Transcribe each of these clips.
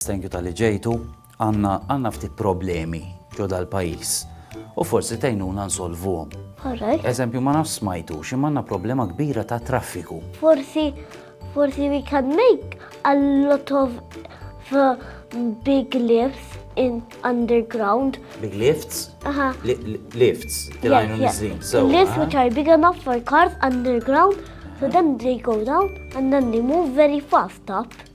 Thank you talli ġejtu. Għandna għandna ftit problemi ġo dal-pajjiż u forsi tgħinuna nsolvuhom. Alright. Eżempju ma nafx smajtux imma għandna problema kbira ta' traffiku. Forsi forsi we can make a lot of uh, big lifts in underground. Big lifts? Aha. Li- li- Lifts. Yes, Tilajnu yes. nizlin. So, Lifts aha. which are big enough for cars underground, so then they go down and then they move very fast up.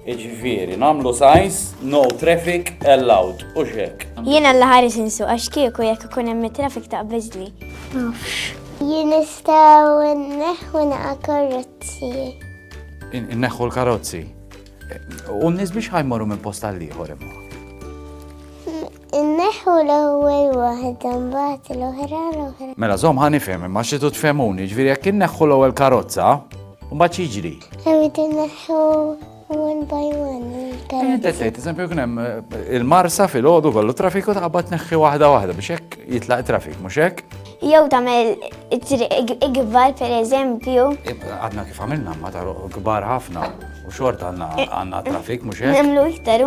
Jiġifieri nagħmlu signs, no traffic allowed, hux hekk? Jiena alla ħares insuq għax kieku jekk ikun hemm it-traffic taqbeżli. Nafx. Jien nistgħu nneħħu naqa' karozzi. Inneħħu l-karozzi. U n-nies biex ħajmorru minn post għal ieħor imma. Inneħħu l-ewwel waħda mbagħad l-oħra l-oħra. Mela żomm ħa nifhem imma xi tfhemuni, ġifieri jekk inneħħu l-ewwel karozza, mbagħad xiġri. Irrid inneħħu one by one. Inti tgħid eżempju kien hemm eh, il-marsa fil-għodu kollu traffiku taqbad neħħi waħda waħda biex hekk jitlaq trafik, mhux hekk? Jew tagħmel triq ikbar pereżempju. Għadna kif għamilna ma taruq kbar ħafna u xort għandna trafik mhux hekk? Nemlu iktar.